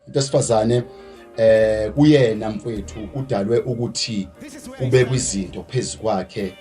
into esifazane eh kuyena mfethu udalwe ukuthi kube kwizinto phezukwakhe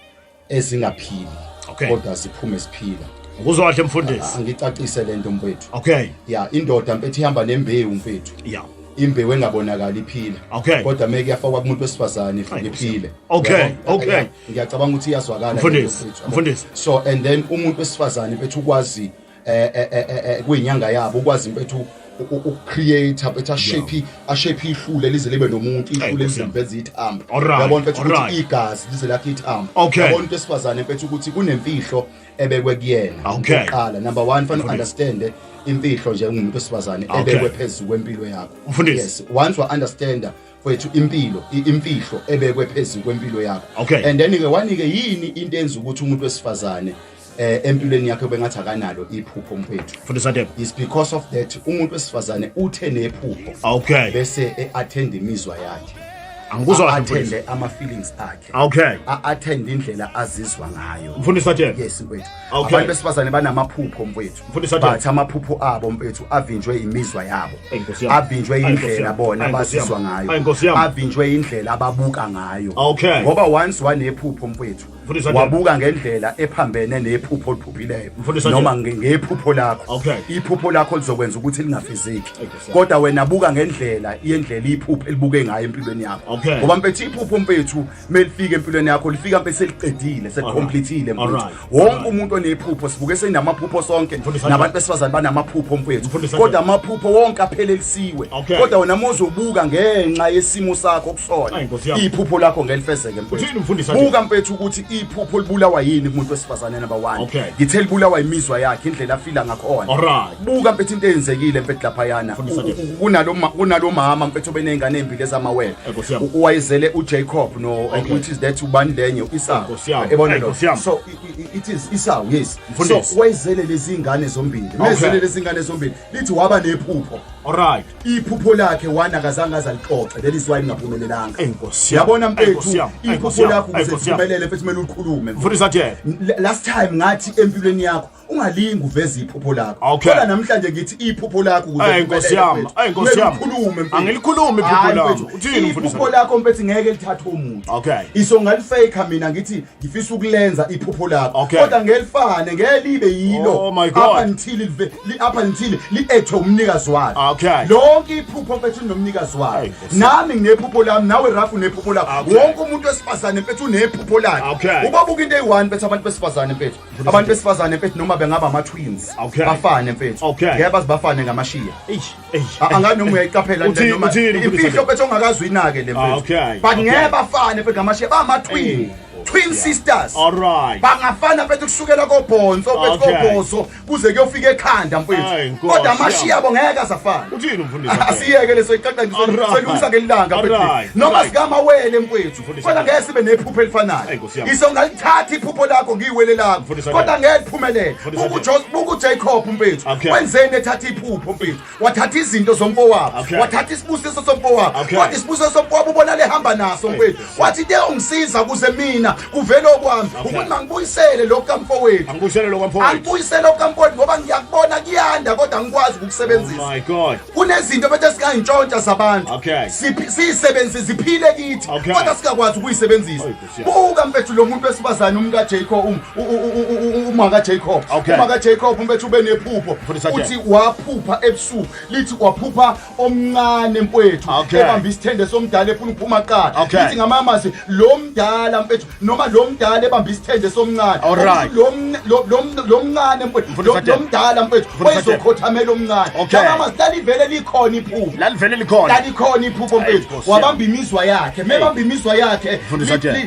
ezingaphili Okay. kodwa ziphume siphila Ngikuzwa kahle mfundisi. angicacise lento mfethu Okay. ya indoda mfethu ihamba nembewu mfethu Yeah. imbewu engabonakali iphila Okay. kodwa meke yafakwa kumuntu wesifazane ifike Hayi, iphile Okay, Uyabona? okay. Ya, ngiyacabanga ukuthi iyazwakala Mfundisi, lento mfethu. mfundisi. so and then umuntu wesifazane mfethu ukwazi eh, eh, eh, kuyinyanga yabo ukwazi impethu ukucreate bethi ashape ashape ihlule lize libe nomuntu ihlule lizembeza ithambo yabona mfethu ukuthi igazi lize lakhe ithambo yabona into esifazane mfethu ukuthi kunemfihlo ebekwe kuyena oqala number 1 fanele understand imfihlo nje ungumuntu osifazane ebekwe phezulu kwempilo yakho yes once wa understand kwethu impilo imfihlo ebekwe phezulu kwempilo yakho and then ke wanike yini into enza ukuthi umuntu wesifazane eh empilweni yakhe bengathi akanalo iphupho mfethu fundisa dem is because of that umuntu wesifazane uthe nephupho okay bese eattend imizwa yakhe angikuzwa athende ama feelings akhe okay athende indlela azizwa ngayo mfundisa dem yes mfethu okay. abantu besifazane banamaphupho mfethu mfundisa dem but amaphupho abo mfethu avinjwe imizwa yabo avinjwe indlela bona bazizwa ngayo avinjwe indlela ababuka ngayo okay ngoba once wanephupho mfethu wabuka ngendlela ephambene nephupho oliphuphileyo noma ngephupho lakho iphupho lakho lizokwenza ukuthi lingafiziki kodwa wena buka ngendlela yendlela iphupho elibuke ngayo empilweni yakho ngoba mpethi iphupho mpethu melifika empilweni yakho lifika mpe seliqedile selicomplethile mfethu wonke umuntu onephupho sibuke senamaphupho sonke nabantu besifazane banamaphupho mfethu kodwa amaphupho wonke aphelele siwe Okay. kodwa wena mozobuka ngenxa yesimo sakho kusona Ayi, Nkosi yami. iphupho lakho ngelifezeke mfethu. Uthini umfundisi athi? buka mfethu ukuthi iphupho libulawa yini kumuntu wesifazane number one Okay. ngithe libulawa imizwa yakhe indlela afila ngakhona Alright. buka mfethu into eyenzekile mfethu laphayana Mfundisi athi? U- u- kunalo ma- kunalo mama mfethu obeney'ngane ey'mbili ezamawele Ayi, Nkosi yami. U- wayezele ujacob no Okay. which is that ubani lenye isawu Nkosi yami. Yabona Ayi, lo? Nkosi yami. so i- i- it is isawu yes Mfundisi. so wayezele lezi ngane zombili Okay. wayezele lezi ngane zombili lithi waba nephupho alright iphupho lakhe wana akazange azalixoxe leli siwaye lingaphumelelanga enkosi yabona mfethu iphupho lakho kusiphumelele mfethu kumele ulikhulume mfundisa nje last time ngathi empilweni yakho ungalingi uveze iphupho lakho kodwa namhlanje ngithi iphupho lakho kuze inkosi yami inkosi yami ukhulume angilikhulumi iphupho lakho uthini mfundisi iphupho lakho mfethu ngeke lithathe umuntu okay isonga lifake mina ngithi ngifisa ukulenza iphupho lakho Okay. kodwa ngelifane ngelibe yilo Oh my God. up until live- li up until liethwe umnikazi walo Okay. lonke iphupho mfethu linomnikazi walo Ay, Nkosi. nami nginephupho lami nawe rafu unephupho lakho Okay. wonke umuntu wesifazane mfethu unephupho lakhe Okay. ubabuka into eyi-one mfethu abantu besifazane mfethu abantu besifazane mfethu noma bengaba ama-twins Okay. bafane mfethu Okay. ngeke baze bafane ngamashiya Eish. angani noma uyayiqaphela nje noma imfihlo bethu ongakazwi inake le ah, mfihlo but ngeke bafane mfethu ngamashe bama twin twin sisters alright bangafana mfethu kusukela kobhonzo mfethu kobhozo kuze kuyofika ekhanda mfethu kodwa amashi yabo ngeke asafana uthini mfundisi asiyeke leso iqaqa ngiselungisa ngelanga mfethu noma sikamawele mfethu kodwa ngeke sibe nephupho elifanayo Ngisho ngalithatha iphupho lakho ngiyiwele lakho. Mfundisi, Kodwa okay. ngeke liphumelele. Mfundisi, Buku okay. Jos buku Jacob mfethu. Okay. Wenzeni ethatha iphupho mfethu? Wathatha izinto zomfowabo. Okay. Wathatha isibusiso somfowabo. Okay. Kodwa isibusiso somfowabo ubona lehamba naso mfethu. Wathi into eyongisiza kuze mina kuvele okwami. Okay. Ukuthi mangibuyisele lokho kamfowethu. Angibuyisele lokho kamfowethu. Angibuyisele lokho kamfowethu ngoba ngiyakubona kuyanda kodwa angikwazi Oh ukukusebenzisa. my God. kunezinto bethe sikayintshontsha zabantu Okay. Siphi- siyisebenzise ziphile kithi Okay. kodwa singakwazi ukuyisebenzisa Oy, Nkosi yami. buka mfethu lo muntu wesifazane umkajacob um- u- u- u- u- u- umakajacob Okay. umakajacob mfethu ube nephupho Mfundisi Ajay. uthi waphupha ebusuku lithi waphupha omncane mfethu Okay. ebambe isithende somdala efuna ukuphuma qala Okay. lithi ngamamazi lo mdala mfethu noma lo mdala ebambe isithende somncane Alright. Ukuthi lo mn- lo- lo mn- lo mncane mfowethu, Mfundisi lo- Adela. lo mdala mfowethu Mfundisi Adela. oyizokhothamela omncane Okay. mama silalivele likhona iphupho lalivele likhona lalikhona iphupho Ayi, mfethu Nkosi wabamba imizwa yakhe mebamba imizwa yakhe Mfundisi Adela.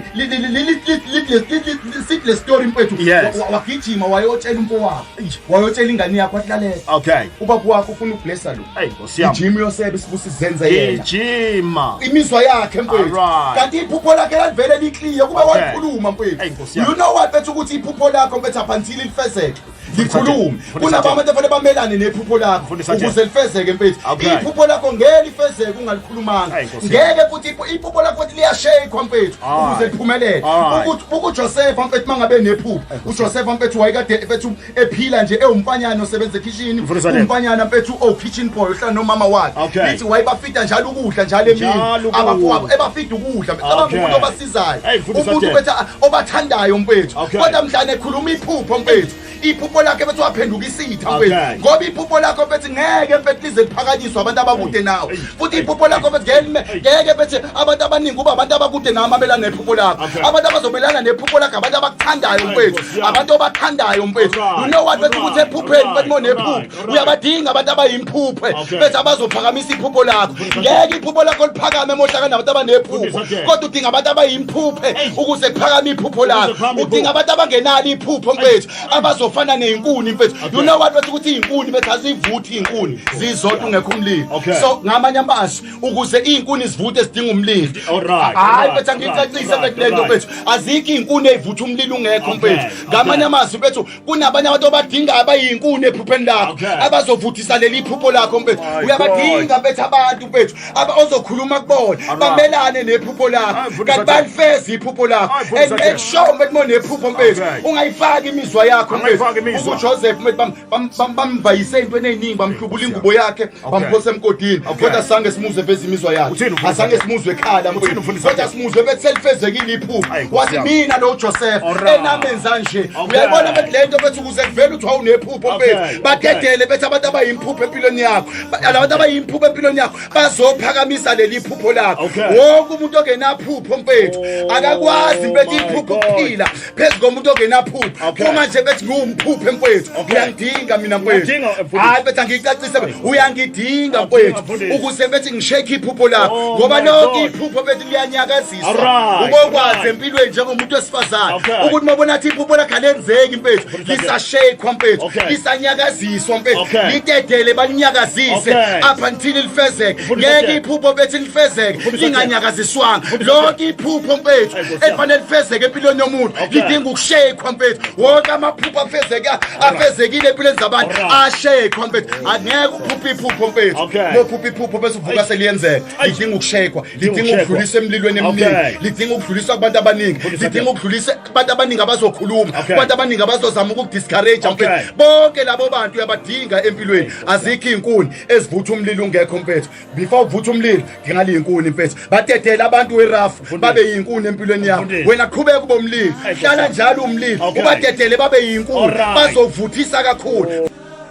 sikule story mfethu Yes. Wa- wa- wagijima wayotshela umfowabo wayotshela ingane yakho ahlalela okay ubaba wakho ufuna ukublessa lo Ayi, Nkosi ijima yosebe isibusi zenze yena ijima imizwa yakhe mfowethu kanti iphupho lakhe lalivele likliye kube wayikhuluma mfowethu you know what bethu ukuthi iphupho lakho mfethu up until lifezeke likhulume kunabo abantu efanele bamelane nephupho lakho ukuze lifezeke mfethu iphupho lakho ngeke lifezeke ungalikhulumanga ngeke futhi iphupho lakho futhi liyashayikwa mfethu ukuze liphumelele ukuthi uJoseph mfethu mangabe nephupho uJoseph mfethu wayekade mfethu ephila nje ewumfanyana osebenza ekhishini Mfundisi Adele. umfanyana mfethu owu-kitchen boy ohlala nomama wakhe Okay. lithi wayebafida njalo ukudla njalo emini Njalo ukudla. abafowabo ebafida ukudla mfethu Okay. abangumuntu obasizayo Hey, Mfundisi umuntu Adele. mfethu a- obathandayo mfethu Okay. kodwa mhlane ekhuluma iphupho mfethu iphupho lakhe mfethu waphenduka isitha Okay. mfethu ngoba iphupho lakho mfethu ngeke mfethu lize liphakanyiswe abantu abakude nawe futhi iphupho lakho begelime ngeke bethi abantu abaningi kuba abantu abakude nami abelana nephupho lakho abantu abazobelana nephupho lakho abantu abakuthandayo mfethu abantu obathandayo mfethu you know what bethi ukuthi ephupheni bethi monephupho uyabadinga abantu abayimphuphe bethi abazophakamisa iphupho lakho ngeke iphupho lakho liphakame mohlaka nabantu abanephupho kodwa udinga abantu abayimphuphe ukuze kuphakame iphupho lakho udinga abantu abangenalo iphupho mfethu abazofana neyinkuni mfethu you know what bathi ukuthi iyinkuni bethi azivuthi iyinkuni zizodwa ungekho umlilo so ngamanye amazwi ukuze iyinkuni zivuthe zidinga umlilo hayi mfethu angicacise mfethu lento mfethu azikho iyinkuni eyivutha umlilo ungekho mfethu ngamanye amazwi mfethu kunabanye abantu abadinga abayinkuni ephupheni lakho abazovuthisa leli phupho lakho mfethu uyabadinga mfethu abantu mfethu aba ozokhuluma kubona bamelane nephupho lakho kanti balifeza iphupho lakho and make sure ukuthi monephupho mfethu ungayifaki imizwa yakho mfethu uJoseph mfethu bamvayise into eneningi bamhlubula ingubo yakhe bamphosa emgodini kodwa sange simuze veza imizwa yakhe asange simuzwe ekhala mfethu kodwa simuzwe bethi selifezekile iphupho wathi mina lo Joseph enamenza nje uyabona bethi lento bethi ukuze kuvela uthi wawunephupho mfethu badedele bethi abantu abayimpupho empilweni yakho labantu abayimphuko empilweni yakho bazophakamisa leli phupho lakho wonke umuntu ongenaphupho mfethu oh, akakwazi mfethu iphupho ukuphila phezu komuntu ongenaphupho uma nje bethi ngiwumphuphe mfethu uyangidinga mina mfethu hayi mfethu angiyicacise uyangidinga mfethu ukuze mfethu ngishekhe iphupho lakho oh ngoba lonke iphupho mfethu liyanyakaza ubokwazi empilweni njengomuntu wesifazane ukuthi uma bona athi iphupho lakhe alenzeki mfethu lisashekwa mfethu lisanyakaziswa mfethu litetele balinyakazise apha ngithini lifezeke ngeke iphupho bethi lifezeke linganyakaziswanga lonke iphupho mfethu elifanele lifezeke empilweni yomuntu lidinga ukushekwa mfethu wonke amaphupho afezeka afezekile empilweni zabantu ashekwa mfethu angeke uphuphe iphupho mfethu lophuphe iphupho bese uvuka seliyenzeka lidinga ukushekwa lidinga ukudlulisa emlilweni eminingi lidinga ukudlulisa kubantu abaningi lidinga ukudlulisa kubantu abaningi abazokhuluma kubantu abaningi abazozama ukukudiscourage mfethu bonke labo bantu uyabadinga empilweni azikho iy'nkuni ezivutha umlilo ungekho mfethu before uvutha umlilo ngingaliyi inkuni mfethu badedele abantu werafu babe yinkuni empilweni yabo wena qhubeka ube umlilo hlala njalo umlilo ubadedele babe yinkuni bazovuthisa kakhulu